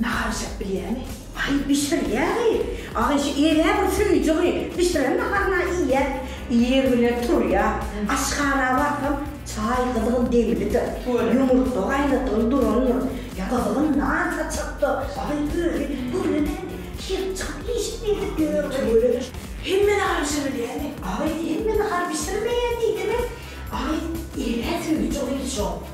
Nahar bişirip bilýämi? Aý bişirýäri. Aý şu ere bir söýjügi, bişiren naharyna iýýä. Ir bilen turýa. Aşhana barsam, çaý gyzgyn demlidir. Ýumurtga gaýnadygyny durandyr. Gyzgyn nan saçylypdyr. Aý özi gürlemän girip çykyp iýişip gezip ýörüpdir. Hemme nahar bişirip bilýämi? Aý hemme nahar bişirmeýä diýdim-ä. Aý ere söýjügi hiç ok.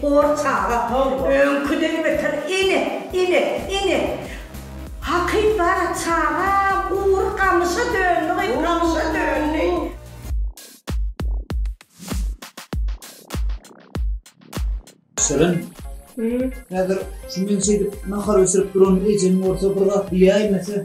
Hor çaga, öňküden beter Ene, ene, ene! Hakyt bar-a, çagam, ugur gamyşa döndi, gyz, gamyşa döndi! Şirin, häzir şu men şeýdip nahar bişirip duran ejem bolsa bir zat diýäýmese?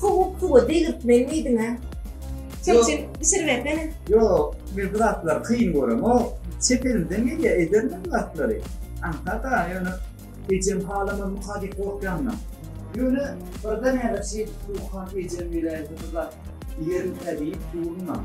Sowuk suwa degirtmeli midiňä? Çöpçen bişiribersene. Ýok, men bu zatlary kyn göremok. Çep elimden gelýär, ederin men bu zatlary. Aňsat-a, ýöne ejem halamazmyka diýip gorkýanmyň? Ýöne birden häzir şeýdip Suwhan ejem welin bu zat iýerimkä diýip durmam.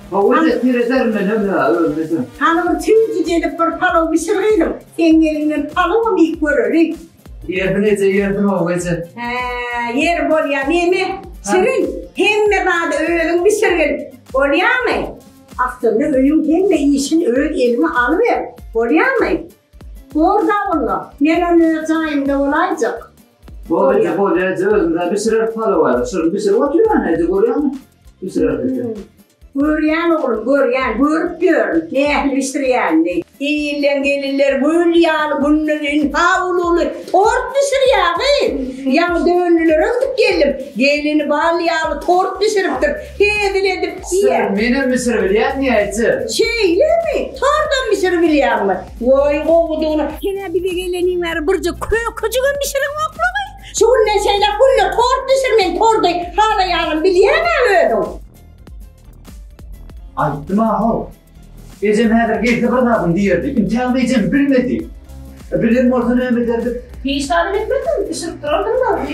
Howlyja terezärin men öňe, öňe-de. Hanumym süýji gelip bir palaw bişir gyzym. Seň eliňden palawam iýip görerin. Ýerdim eje, ýerdim-ow eje. Hä, ýer bolýa neme, şirin. Hemme zady özüň bişirgil, bolýamy? Aslynda öýüň hemme işini öz eliňe alyber, bolýamy? Bor-da onda, men onda öz jaýymda bolaýjak. Bor eje, bor eje, özümden bişirer palawa. Şuny bişirip oturýan eje, görýäňmi? Bişirer eje. Görýän oglum, görýän, görüp ýörün, nähili bişirýänini. Ilden gelinler gül ýaly günlerin hawluly tort bişirýägi. Ýaňy dönlülere gidip geldim. Gelin bal ýaly tort bişiripdir. Hezil edip diýýär. Menem bişiribilýän ýa eje? Şeýlemi? Tortam bişiribilýäňmi? Woy gowudygyny. Senä bize geleniň bäri birje kökejigem bişiriňoklugy. Şu günden şeýläk günde tort bişir men tordy halaýanyn bilýäňä özüň. Aýtdym-a how. Ejem häzir gelse bir zadym diýerdi. Intägem ejem bilmedi. Bilen bolsa näme ederdik. Hiç zadam etmezdim, bişirip durardym dagy.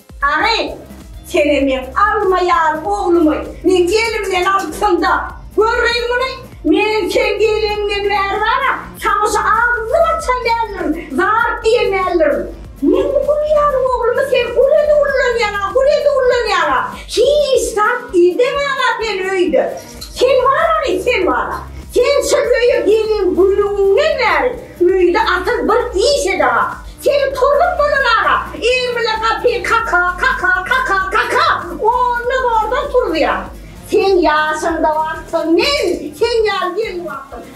Ary, Sene meň alma ýaly oglumy meň elimden alsaň-da, görgin muny, men sen geleňden bäri bar-a, saňa şu agzymy açan däldirin, zat diýen däldirin. Men bu gül ýaly oglumy sen gül edip ullanýaň-a, gül edip ullanýaň-a, hiç zat idemäň-a sen öýde. Sen barany sen bara. Sen şu öýe gelen günüňden bäri öýde asyl bir iş edara. Seni tolup bolanara eň bilen gapyny kaka, kaka, kaka, kaka, onda zordan turuzýar. Sen ýaşyňda barsyň, men sen ýaly gelni bapdym.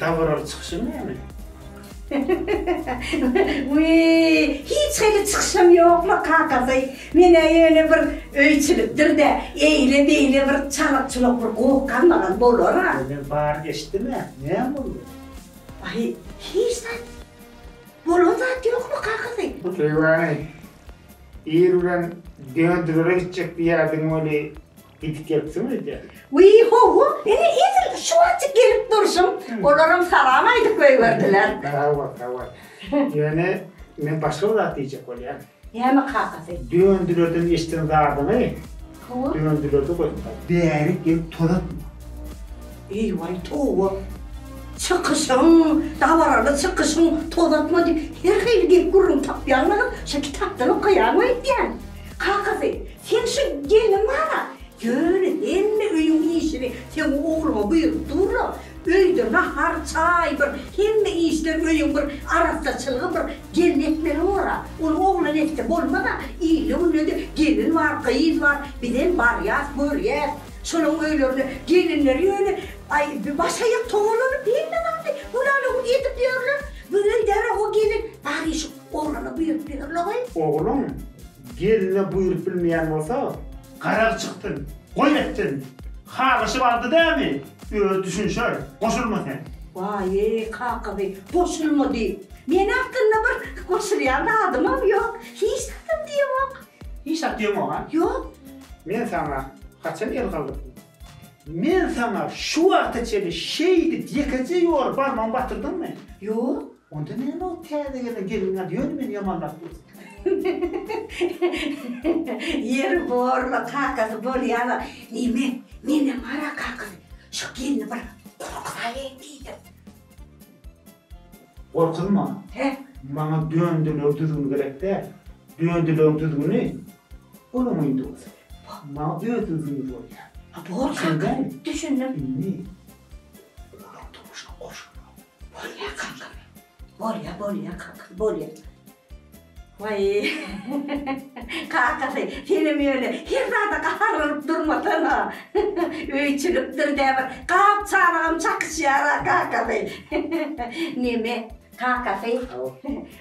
Dabaraly çykyşyň näme? Wiý, hiç hili çykyşam ýokla kakasy. Men-ä ýöne bir öýçilikdir-de, eýle-beýle bir çalykçylak bir goh galmagan bolar-a. Ýöne bary geçdimi? Näme boldy? Aý, hiç zat. Bolan zat ýokla kakasy. Söýgäni, ir bilen dönedilere gitjek diýýärdiň weli, Gidip gelipsiň öýdä. Wiý, hawa, ine edil şu wagtjyk gelip durşum. Olaram salam aýdyp goýberdiler. Hawa, hawa. Ýöne men başga bir zat diýjek bolýan. Näme kakasy? Döndilerden eşden zadyňy. Hawa. Döndilerde goýuplar. Bärik gelip toz atma. Eý-waý, towa. Çykyşyň, dabaraly çykyşyň, toz atma diýip, her hili gep-gürrüň tapýaňmy, şo kitapdan okaýaňmy öýdýän? Kakasy, seň şu gelniň bar-a, ýöne hemme öýüň işini seň ogluňa buýrup dur-la, öýde nahar, çaý bir, hemme işler, öýüň bir arassaçylygy bir gelin etmeli bor-a, ony oglan etse bolmaz-a, ilde-günde-de gelin bar, gyz bar, bizem barýas, görýäs, şolaryň öýlerine gelinleri ýöne, aý, başaýak togalanyp hemme zady, bulalyk edip ýörler, bu öýde-ä o gelin, bar işi. Oglana buýrup bilir logy. Ogluň gelne buýrup bilmeýän bolsa. Garaz çykdyn, goý etsin. Halyşy bardy dämi, özi düşünşer, goşulma sen. Waýy, kakasy, goşulma diýip. Men aslynda bir goşulýan zadymam ýok. Hiç zadam diýemok. Hiç zat diýemok-a? Ýok. Men saňa haçan el galdyrdym? Men saňa şu wagta çenli şeýdip ýekeje ýoly barmagyny batyrdyňmy? Ýok. Onda näme ol täze gelen gelniň ady ýöne meni ýamanlap dursun. Ýeri borla kakasy bolýar-a. Neme, menem gara kakasy. Şu gelni bir gorkuzaýaýyn diýdim. Gorkunma. Hä? Maňa döndiler düzgüni gerek däl. Döndileriň düzgüni Onuň Windowsy bar. Maňa özüni zyndyr bolýar. A bor kaka, düşündim. Indi olaň durmuşyna goşulmaly. Bolýar kaka. Bolýar, bolýar kaka, bolýar. Waý, kakasy, senem ýöne her zada gaharlanyp durmasana. Öý çülikdir dä bir gap-çanagam çakyşýar-a kakasy. Neme, kakasy?